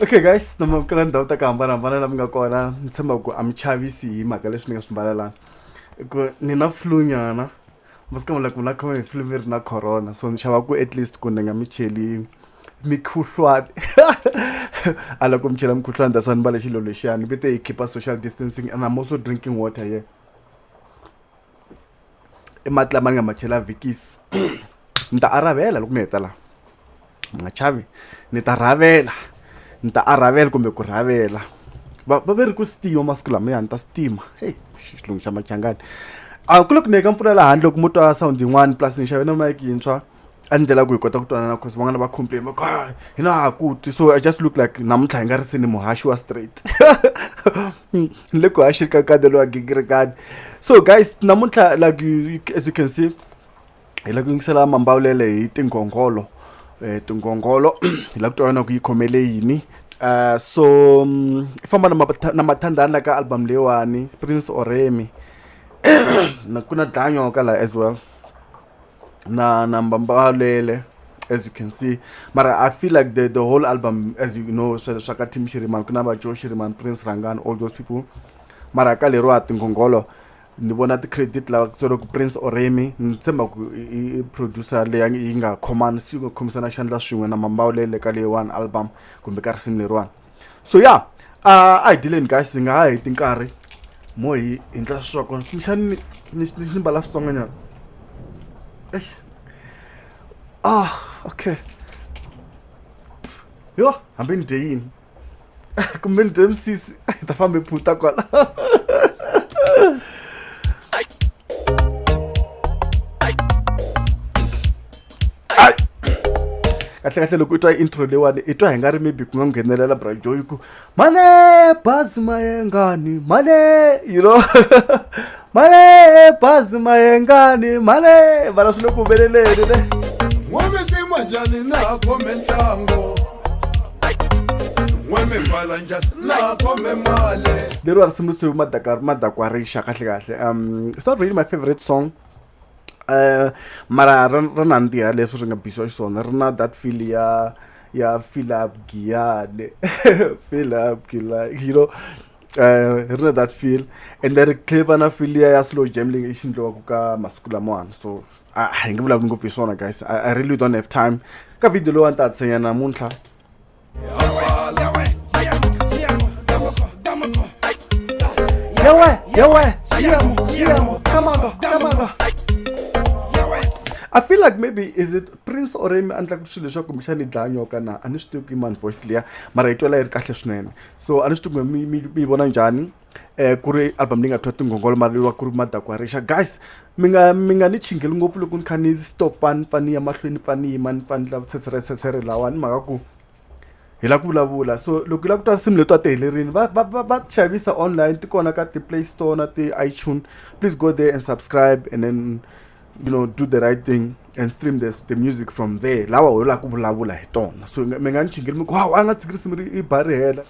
okay guys noma kala ndhawu ta ku hambanahambana la mi nga kona ni tshemba ku a mi chavisi hi mhaka leswi ni nga swi mbalelanga ku ni na flu nyana masikama like mina khome hi flu mi ri na corona so ni xava ku at least ku ni nga mi cheli mikhuhlwani a loko mi chela mikhuhlwani that's why ni mbale xilo lexiyani ni vite hi khipa social distancing and i'm also drinking water here yeah. i mati lama ni nga ma chela vikisi ni ta arhavela loko mi heta laha mi nga chavi ni ta rhavela ni ta arhavela kumbe ku rhavela va va ve ri ku sitima masiku lama ya ni ta sitima heyi xilungu xa machangani a ku le ku neka mpfula laha handle loko mo twa sound yin'wani plus ni xave na mike yintshwa a ni ndlela ku hi kota ku twanana cause van'wana va complain va ku ah, hi na ha ku twi so i just look like namuntlha hi nga ri se ni muhaxi wa straight ni le ku haxi ka kade lowa gingirikani so guys namuntlha like you, as you can see hi la ku yingisela mambawulele hi tinghongholo um tinghongholo hi la ku twa yona ku yi khomele yini um so mm, i famba na mathandani la ka album leyiwani prince oremi na ku na dlanyoka laha as well na na mbambalele as you can see mara i feel like the, the whole album as you know swa ka team shiriman ku na va joe shiriman prince rangan all those people mara ka leriwa tinghongholo ni vona ti-credit lava tswere ku prince oremi ni tshemba ku i producer leya yi nga khomani si yi nga khomisana xandla swin'we na mambawulele ka leyiwani album kumbe ka risimu leriwani so ya yeah, a hi dileni guys hi nga ha heti nkarhi mo hi hi ndla sweswaku kumbexani ni ni mbala switsonganyana eish ah okay yo hambi ni dye yini kumbe ni dye misisi hi ta famba hi phuta kwala kahlekahle loko i twa intro leyiwani i twa hi nga ri maybe ku nga nghenelela brajo yi ku mane bazi mayengani mane you know mane bazi mayengani mane vana swi le ku humeleleni ne n'wamisimu njhani na khome ntlango n'wemi pfala njhani na khome mali leriwa ri simbisiwe madakwa madakwa rixa kahlekahle um it's not really my favorite song mara ri ri nandziha leswi ri nga biyiwa xiswona ri na that feel ya ya Philip Giyani Philip Giyani you know ri na that feel ende ri tlhela na feel liya ya slow jam leyi xi endliwaka ka masiku lamawani so a hi nge vulavuli ngopfu hi swona guys I really don't have time ka video leyiwani ni ta ti tshinya namuntlha. Yawe, yawe, siamo, siamo, kamaga, kamaga. I feel like maybe is it Prince or Remy a ndlaku swilo leswaku kumbexana yi dlaya nyoka na a ni swi tivi ku i mani voice liya mara yi twala yi ri kahle swinene so a ni swi tivi ku mi mi mi yi vona njhani. eh ku ri album leyi nga twa tinghongolo mara leyiwa ku ri madakwarexa guys mi nga mi nga ni chingeli ngopfu loko ni kha ni stopa ni pfa ni ya mahlweni ni pfa ni yima ni pfa ni lava tshetsheretshetshere lawa ni mhaka ku hi lava ku vulavula so loko hi lava ku twa nsimu leti a ti helerile va va va va xavisa online ti kona ka ti-play store na ti-itune please go there and subscribe and then you know do the right thing and stream the, the music from there lawa ho lava ku vulavula hi tona so mi nga ni chingeli mi ku hawu a nga tshiki risimu ri i ba ri hela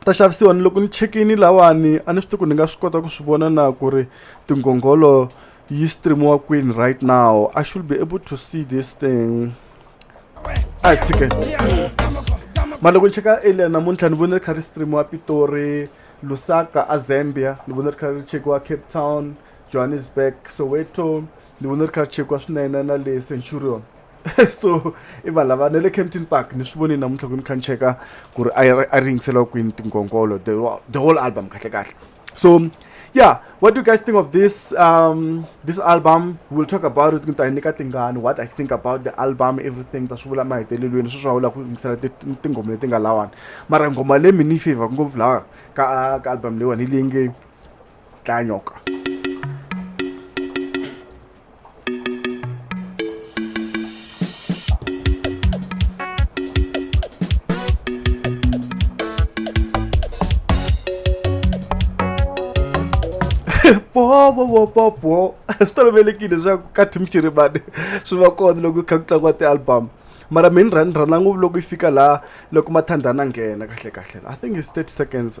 ta xavisiwa ni loko ni chekini lawani a ni swi tivi ku ni nga swi kota ku swi vona na ku ri tinghongholo yi streamiwa kwini right now i should be able to see this thing a hi tshike mara loko ni cheka elia namuntlha ni vone ri kha ri streamiwa pitori lusaka a zambia ni vone ri kha ri chekiwa cape town johannesburg soweto ni vone ri kha ri chekiwa swinene na le centurion so i vanhu lava na le campton park ni swi voni namuntlha ku ni kha ni cheka ku ri a ri yingisela kwini tinkonkolo the whole album kahle kahle so yeah what do you guys think of this um this album we'll talk about it nta nyika tingani what i think about the album everything ta swi vula mahetelelweni sweswi a wu lava ku yingisela tinghoma leti nga lawani mara nghoma leyi mi ni favor ngopfu laha ka ka album leyiwani hi leyi nge tlanyoka popopopopo swi tolovelekile leswaku ka team chiribane swi va kona loko kha ku tlangiwa ti-album mara mi ni rhandza ngopfu loko yi fika laha loko mathandana nghena kahle kahle i think is thirty seconds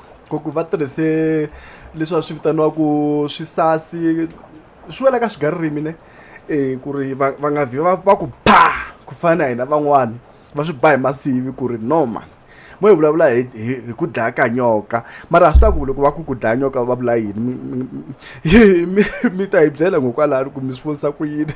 ku ku va tirhise leswi va swi vitaniwaku swisasi swi wela ka swigaririmi ne e ku ri va va nga vhi va va ku ba ku fana na hina van'wani va swi ba hi masivi ku ri no ma mo hi vulavula hi hi hi ku dlaya ka nyoka mara a swi ta ku loko va ku ku dlaya nyoka va vula yini mi mi mi mi ta hi byela hikokwalaho ku mi swi vonisa ku yini.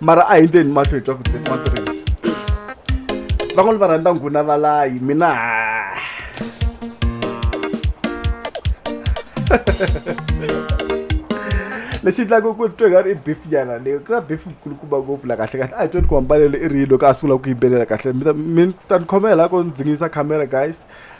mara a hi ndeni mahlo hi twa ku matirhisa van'wana va rhandza nghuna valayi mina lexi endlaka ku twe nga ri i beef nyana leyo ku na beef kulukumba ngopfu la kahle kahle a hi tweni ku hambanelo i ri yini loko a sungula ku yimbelela kahle mi ta ni khomela lako ni dzingisa camera guys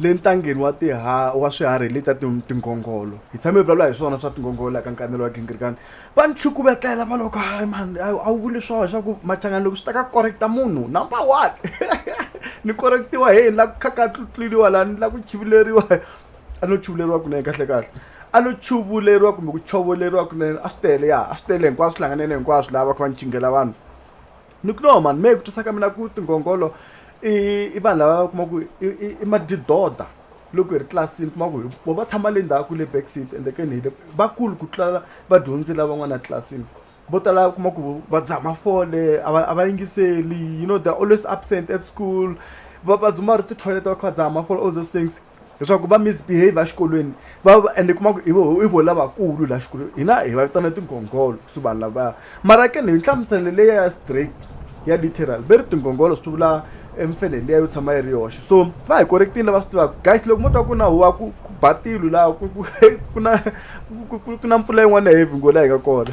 Le ntangeni wa tiha wa swiharhi hi letiya ti tinghongholo hi tshame hi vulavula hi swona swa tinghongholo la ka nkanelo wa gingirikani va ni chukuvetela va loko hayi mhani hayi a wu vuli swona swa ku machangani loko swi ta ka correct-a munhu number one ni correct-iwa heyi ni la ku khakhatluriwa la ni la ku chivuleriwa a no chuvuleriwa kunene kahlekahle a no chuvuleriwa kumbe ku chovoleriwa kunene a swi tele ya a swi tele hinkwaswo swi hlanganile hinkwaswo lava va kha va ni cingela vanhu. ni ku no mani mehe ku twisa ka mina ku tingongolo i i vanhu lava va kuma ku i madidoda loko hi ri tlilasini kuma ku vo va tshama le ndzhaku le back seat ende ke ni hi le vakulu ku tlula vadyondzi lavan'wana etlilasini vo tala u kuma ku va dzaha mafole a va a va yingiseli you know they are always absent at school va va dzumba ri tithoyileti va kha va dzaha mafole all those things leswaku va misbehave exikolweni va va ende kuma ku i vo i vo lavakulu laha xikolweni hina hi va vitana tinghongholo swi vanhu lavaya mara ke ni hi nhlamuselo leya ya straight ya literal ve ri tinghongholo swi vula emfenhe liya yo tshama yi ri yoxe so va hi correctile lava swi tivaka guys loko mo twa ku na huwa ku ku ba tilo laha ku ku ku na ku na mpfula yin'wana ya heavy ngo laha hi nga kona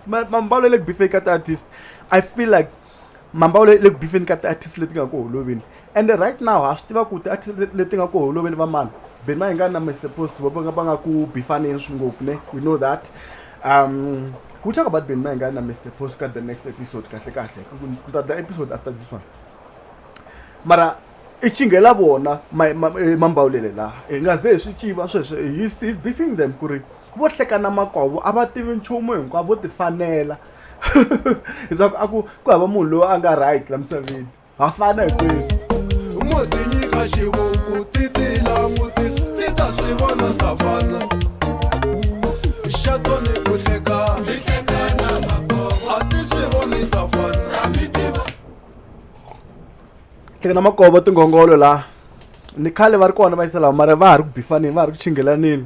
Ma- mambalo ya le ku bifeni ka ti-artist i feel like mambalo ya le ku bifeni ka ti-artist leti nga ku holoveni ende right now ha swi tiva ku ti-artist leti- leti nga ku holoveni va mani ben mayingani na mr post va va nga- va nga ku bifaneni swi ngopfu ne we know that um we talk about ben mayingani na mr post ka the next episode kahle kahle ku ta the episode after this one mara i chinghela vona ma- ma- eh, mambawulele laha hi nga ze hi swi tiva sweswo he's, he's beefing them ku ri vo hleka na makwavo a va tivi nchumu hinkwavo vo tifanela leswaku a ku ku hava munhu loyi a nga right la misaveni ha fana hinkwenu mo tinyika xivuku ti ti langutisa ti ta swi vona savana xa tone ku hleka ti hleka na makwavo a ti swi voni savana a mi tiva hleka na makwavo tinghongolo laha ni khale va ri kona va yisela mara va ha ri ku bifaneni va ha ri ku chingelaneni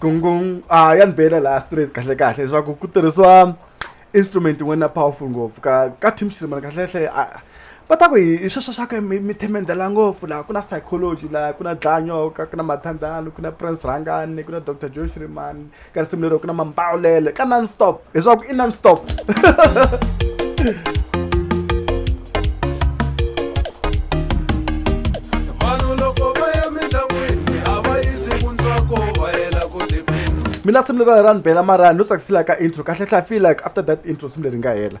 gungung a ya ni bela laha straight kahle kahle leswaku ku tirhisiwa instrument yin'wana ya powerful ngopfu ka ka team streamer kahlekahle a va ta ku hi hi sweswo swa ku mi mi themendela ngopfu laha ku na psychology laha ku na dlanyoka ku na mathandalo ku na prince rhangani ku na doctor joe shrimani ka risimu lero ku na mambawulele ka non stop leswaku i non stop mina simu leri ra ni bela marani no tsakisela ka intro kahle hlafi like after that intro simu leri nga hela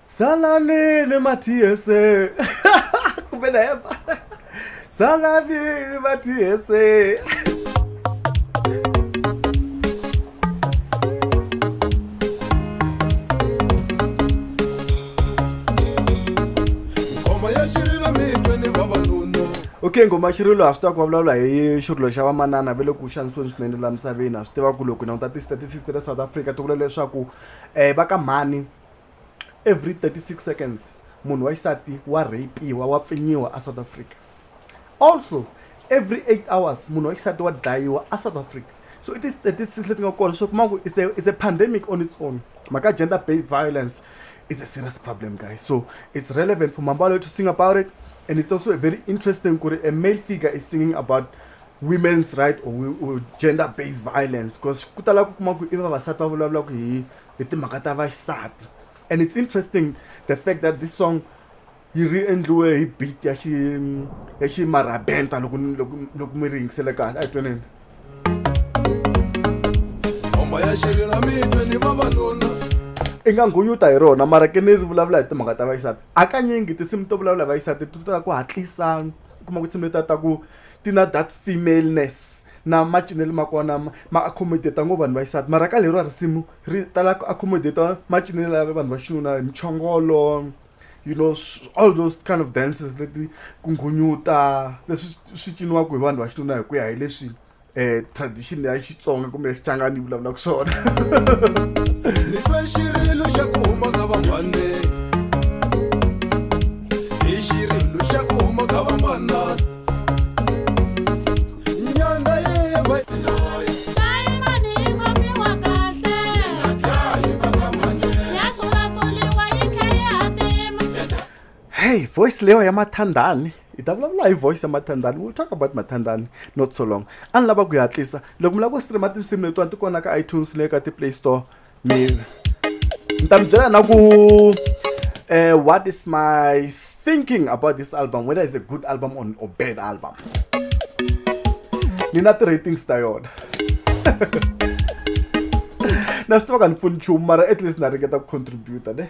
Salani ni Mathiese. Kumbe na hemba. Salani ni Mathiese. ngoma ya xirilo mitwe ni vavanuna okay ngoma xirilo ha swi tiva ku vulavula hi xirilo xa vamanana va le ku xanisiweni swinene laha misaveni ha swi tiva ku loko hi languta ti-statistics ta le south africa ti vula leswaku um va ka mhani every thirty six seconds munhu wa xisati wa rape-iwa wa pfinyiwa a south africa also every eight hours munhu wa xisati wa dlayiwa a south africa so i ti-statistics leti nga kona swi kuma ku is a is a pandemic on its own mhaka gender based violence is a serious problem guys so it's relevant for mambalo to sing about it and it's also a very interesting ku a male figure is singing about women's right or, or gender based violence because ku tala ku kuma ku i vavasati va vulavulaka hi hi timhaka ta vaxisati and it's interesting the fact that this song yi ri endliwe hi beat ya xi ya xi marabenta loko loko loko mi ri yingisele kahle a yi tweneni homa ya xiri na mitwe ni vavanuna i nga nghunyuta hi rona mara ke ni ri vulavula hi timhaka ta vaxisati hakanyingi tinsimu to vulavula hi vaxisati ti tala ku hatlisa u kuma ku tinsimu leta ta ku ti na that femaleness na macinelo ma kona ma ma accommodate ngo vanhu va xisati mara ka leriwa risimu ri tala ku accommodate macinelo ya vanhu va xinuna hi muchongolo you know all those kind of dances leti ku nghunyuta leswi swi ciniwaka hi vanhu va xinuna hi ku ya hi leswi um tradition ya xitsonga kumbe ya xichangani yi vulavulaka swona hey voice leyo ya mathandani hi ta vulavula hi voice ya mathandani we'll talk about mathandani not so long a ni lava ku yi hatlisa loko mi lava ku streama tinsimu letiwani ti kona ka itunes leyi ka ti-play store mina ni ta mi byela na ku uh, what is my thinking about this album whether it's a good album or, or bad album ni na ti-ratings ta yona na swi tiva ka ni pfuni nchumu mara at least na ringeta ku contributa ne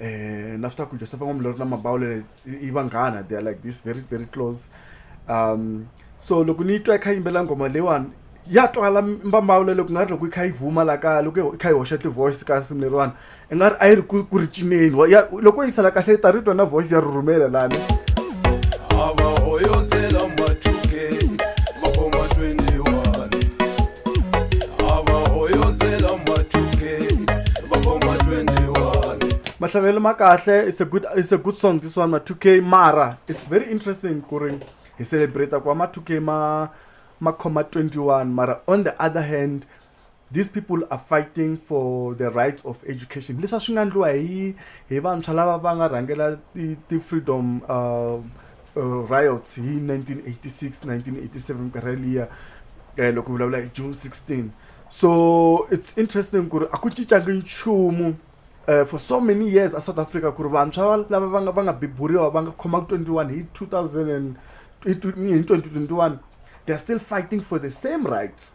eh, na swi tiva ku joseph n'wamulori na mabawulele i vanghana they are like this very very close um so loko ni yi twa yi kha yimbela nghoma leyiwani ya twala mbambawula loko nga ri loko yi kha yi vuma la kaya loko yi kha yi hoxa ti-voice ka simu leriwani i nga ri a yi ri ku ri cineni loko yi sala kahle yi ta ri twa na voice ya rhurhumela lani mahlabelo ma kahle it's a good it's a good song this one ma 2k mara it's very interesting ku ri hi celebrate ku ma 2k ma ma khoma 21 mara on the other hand these people are fighting for the rights of education leswi a swi nga ndliwa hi hi vantshwa lava va nga rhangela ti-freedom uh, uh, riots hi 1986 1987 karhi liya eh, loko vulavula hi june 16 so it's interesting ku ri a ku cincangi nchumu Uh, for so many years a south africa ku ri vantshwa lava va nga va nga biburiwa va nga khoma 21 hi 2000 hi 2021 they're still fighting for the same rights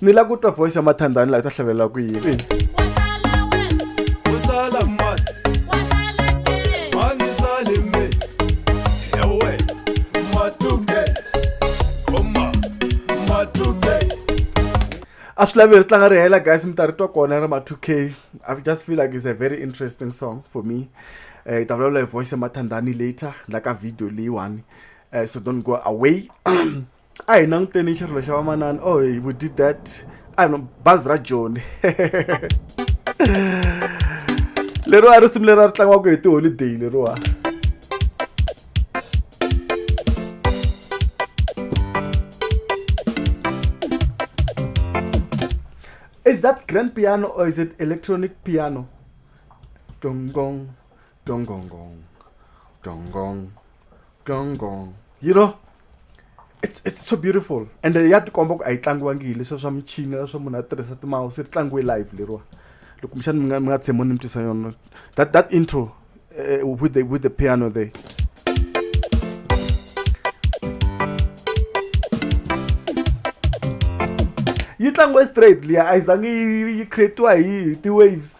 ni la ku twa voice ya mathandani laha u ta hlavelela ku yini a swi lavi ri tlanga ri hela guys mi ta ri twa kona ri ma 2 k i just feel like it's a very interesting song for me um hi ta vulavula hi voice ya mathandani later la ka video leyiwani um so don't go away a hi languteni xirilo xa vamanana oh hey, we did that a no bazi ra joni leriwa ri simu leri a ri tlangiwaka hi tiholideyi leriwa is that grand piano or is it electronic piano dong dong Gong gong gong. Gong gong. Gong gong. You know? It's, it's so beautiful and ya tikomba ku a yi tlangiwangi hi leswiya swa michini leswo munhu a tirhisa timawusi ri tlangiwe live leriwa loko kumbexani mi nga mi nga tshembo ni mi twisa yona that that intro uh, with the with the piano there yi tlangiwe straight liya a yi zangi yi creatiwa hi ti-waves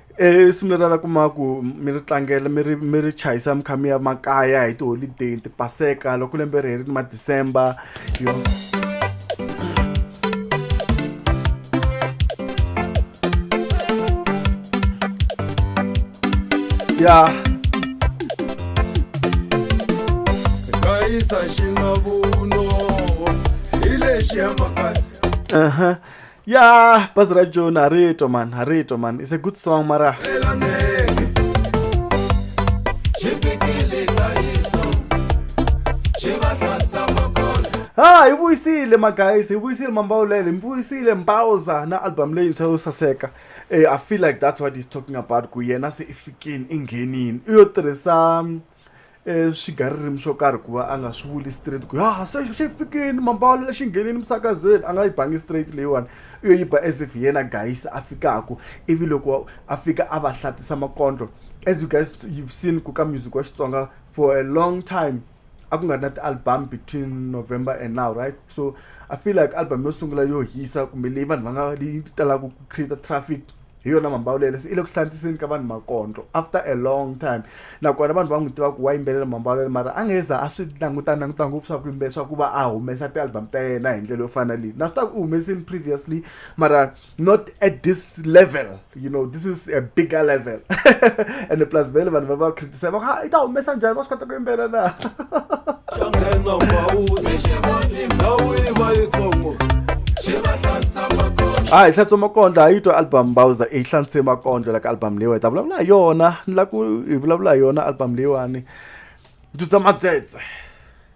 i simu leri a la kuma ku mi ri tlangela mi ri mi ri chayisa mi kha mi ya makaya hi tiholideyi ti paseka loko lembe ri herile ma december yo ya gayisa xinavuno hi lexi ya makaya uh-huh ya bazi ra joni ha ri twa mani ha ri twa mani is a good song mara ha hi vuyisile magayisi hi vuyisile mambawulele mi vuyisile mbawuza na album leyintshwa yo saseka um i feel like that's what he's talking about ku yena se i fikini i nghenini u yo tirhisa swigaririmi swo karhi ku va a nga swi vuli straight ku ya se xi fikini mambalo lexi nghenini misakazweni a nga yi bangi straight leyiwani u yo yi ba as if hi yena guys a fikaka ivi loko a fika a va hlatisa makondlo as you guys you've seen ku ka music wa xitsonga for a long time a ku nga ri na ti-album between november and now right so i feel like album yo sungula yo hisa kumbe leyi vanhu va nga yi talaka ku create traffic hi yona mhamba yo lele se i le ku hlantiseni ka vanhu makondlo after a long time nakona vanhu va n'wi tiva ku wa yimbelela mhamba yo lele mara a nge za a swi languta languta ngopfu swa ku yimbelela swa ku va a humesa ti-album ta yena hi ndlela yo fana leyi na swi ta ku u humesini previously mara not at this level you know this is a bigger level and plus vele vanhu va va se va ha i ta humesa njhani va swi kota ku yimbelela na xa nghena mbawuzi xi va ndhawu yi va yitsongo xi va hlantsama hayi hlatso makondlo a yi twa album bowser i hlantswe makondlo la ka album leyiwani ta vulavula hi yona ni la ku hi vulavula hi yona album leyiwani ndzi twa madzetse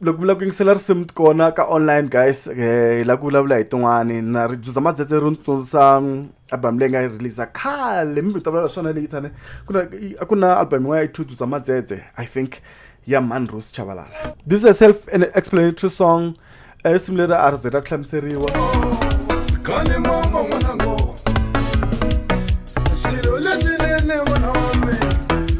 loko mi lava ku yingisela risimu kona ka online guys um hi lava ku vulavula hi tin'wani na ri juza madzetse ri ni tsundzusa album leyi nga yi releasa khale mi ta vulavula swona leyi tane ku na a ku na album yin'wana ya two juza madzetse i think ya manros chavalala this is a self an explanatory song um risimu leri a ri ze ra ku hlamuseriwa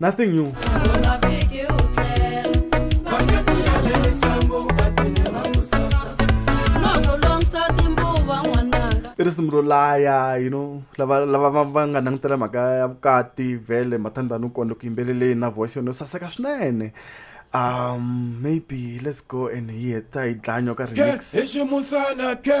Nothing new. i risimu ro laya you know lava lava va va nga langutela mhaka ya vukati vhele mathandani u kona ku yimbeleleni na voice yona yo saseka swinene um maybe let's go and hear ta yi dlanyo ka remix ke hi ximusana ke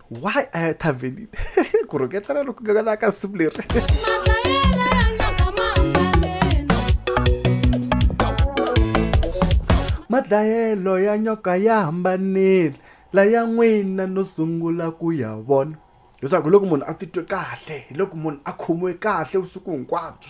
why a ya thavenini ku rhoketana loku nga la ka simu leri madlayelo ya nyoka ya hambanile laya n'wina no sungula ku ya vona leswaku hi loko munhu a titwe kahle hi loko munhu a khomiwe kahle vusiku hinkwabyo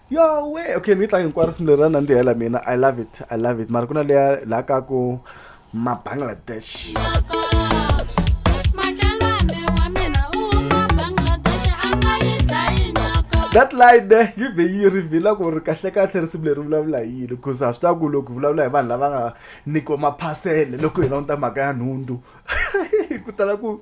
yowe okay ni yi tlanga hinkwaro risimu leri ra nandzihela mina i love it i love it mara ku na leya laha ka ku mabangladesh that line ne yi vhe yi rivhila ku ri kahlekahle risimu leri vulavula hi yini because a swi ta ku loko vulavula hi vanhu lava nga nyikiwa maphasele loko hi languta mhaka ya nhundzu ku tala ku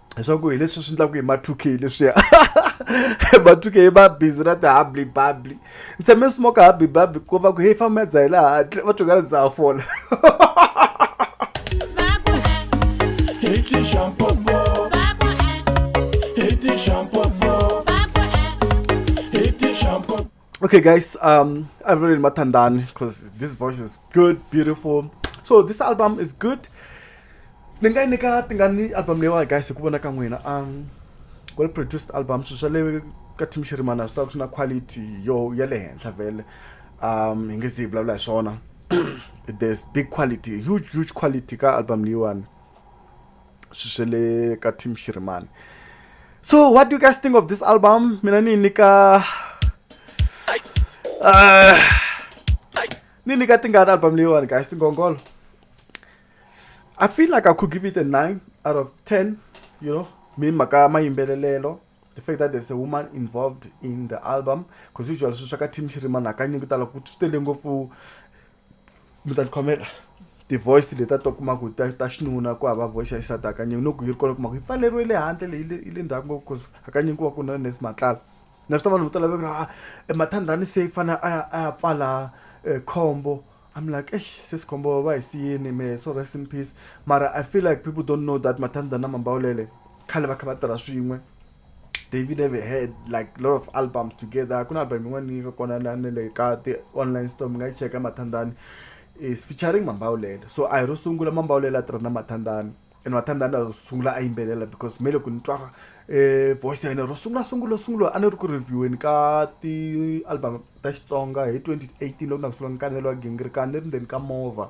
leswaku hi leswi swi endlaku hi ma two k leswiya ma two k va busy na ti-hubbly bubbly ni tshame ni smoke hubbly bubbly ku va ku heyi famba dzaha hi laha handle va twingana ndza ha fola Shampoo. okay guys um i really matandani because this voice is good beautiful so this album is good ni nga yi nyika tingani album leyiwani guys hi ku vona ka n'wina um well produced album swilo swa le ka team xirimana swi ta swi na quality yo ya le henhla vele um hi nge zi hi vulavula hi swona there's big quality huge huge quality ka album leyiwani swi swe le ka team shirimani so what do you guys think of this album mina ni nyika uh, ni nyika tingani album leyiwani guys tingongolo i feel like i could give it a 9 out of 10 you know mi mhaka mayimbelelelo the fact that there's a woman involved in the album because usually swi swa ka team shirimani hakanyingi tala ku swi tele ngopfu mi ta tikhomela ti-voice leti a to kuma ku ta ta xinuna ku hava voice ya xisati hakanyingi no ku yi ri kona kuma ku yi pfaleriwe le handle leyi le- yi le ndzhaku ngopfu cause hakanyingi ku va ku na nesi matlala na swi ta vanhu vo tala va ku a mathandhani se fane a ya a ya pfala eh, khombo I'm like, eish, sis khombo va hi siyini me so rest in peace. Mara I feel like people don't know that mathandhana mambawulele khale va kha va tirha swin'we. David never had like a lot of albums together ku na album yin'wana yi nga kona na na le ka ti-online store mi nga yi cheka mathandani is featuring mambawulela so a hi ro sungula mambawulela a tirha na mathandani and mathandani a sungula a yimbelela because me loko ni twa um voice ya yena ro sungula sungula sungula a ni ri ku revieweni ka ti-album ta xitsonga hi twenty eighteen loko na ku sungula ni kaneriwa gingirikani ni ri ndzeni ka movha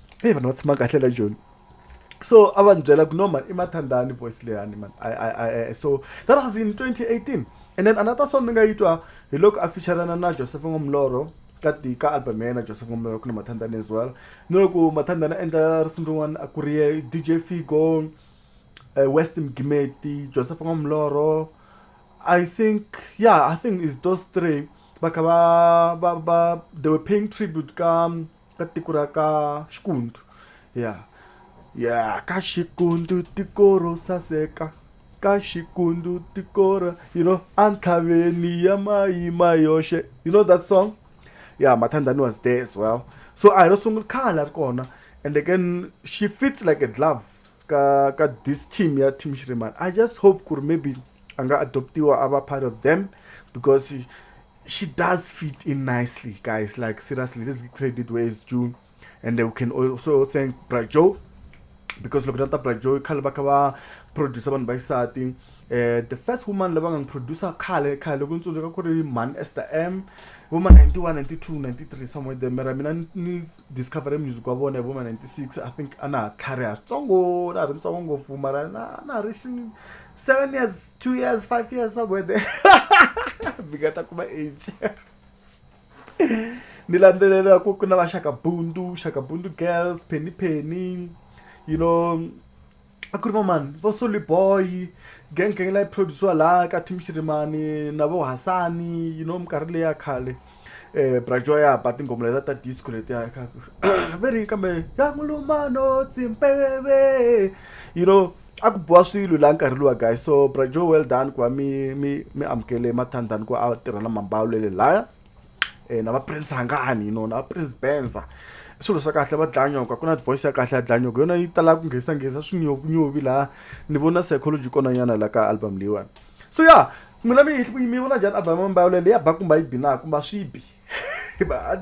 heyi vanhu va tshama kahle la joni so a va ni byela ku no man i mathandani voice leyani man I, I, I, so that was in 2018 and then another song ni nga yi twa hi loko a featurana na joseph ngomloro ka ti ka album ya yena joseph ngomloro ku na mathandani as well ni loko mathandani a endla risimu rin'wana a ku ri ye dj figo uh, eh, west mgimeti joseph ngomloro I think yeah I think it's those three bakaba ba ba they were paying tribute ka um, ka tiko ra ka xikundu ya ya ka xikundu tiko ro saseka ka xikundu tiko ra you know entlhaveni ya mayima yoxe you know that song ya mathandani was there as well so a hi ro sungula khale a ri kona ende ke xi fits like a glove ka ka this team ya team shriman i just hope ku ri maybe a nga adoptiwa a va part of them because she, she does fit in nicely guys like seriously this credit where is due and we can also thank brajo because loko nata brajo i khale va kha va producer vanhu va xisati um eh, the first woman lava nga producer khale khale loko ni tsundzuka ku ri man ester m vo ma 91 92 93 somewhere there mara mina ni Discovery music wa vona hi vo ma ninety six I think a na ha tlhariha switsongo na ha ri ntsongo ngopfu mara na na ha ri seven years two years five years somewhere there mi nga ta kuma age ni landzelela ku ku na va Shaka Bundu Shaka Bundu girls Penny Penny you know a ku ri va mani vo soli boy gang gang leyi produciwa laha ka team xirimani na vo hasani you know minkarhi leyi ya khale um brajoa ya ba tinghoma leta ta disco letiya ve ri kambe ya mulumano tsimpeveve you know a ku boha swilo laha nkarhi luwa guys so brajoa well done ku va mi mi mi amukele mathandani ku a tirha na mambawulele laya e na va prince hangani you know na va prince benza i swilo swa kahle va dlanyoka ku na voice ya kahle ya dlanyoka yona yi tala ku nghesanghesa swinyovunyovi laha ni vona psychology kona nyana la ka album leyiwani so ya yeah, n'wina mi mi vona njhani album ya mbayolo leyi ya ba kumba yi bi na kumba swi bi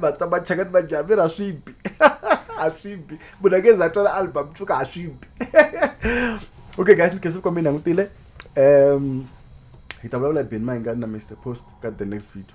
va ta va cheka ni va dya mira swi bi a swi bi munhu a nge za twela album tshuka a swi bi okay guys ni khensile kwambe ni langutile um hi ta vulavula hi beni mayingani na mr post ka the next video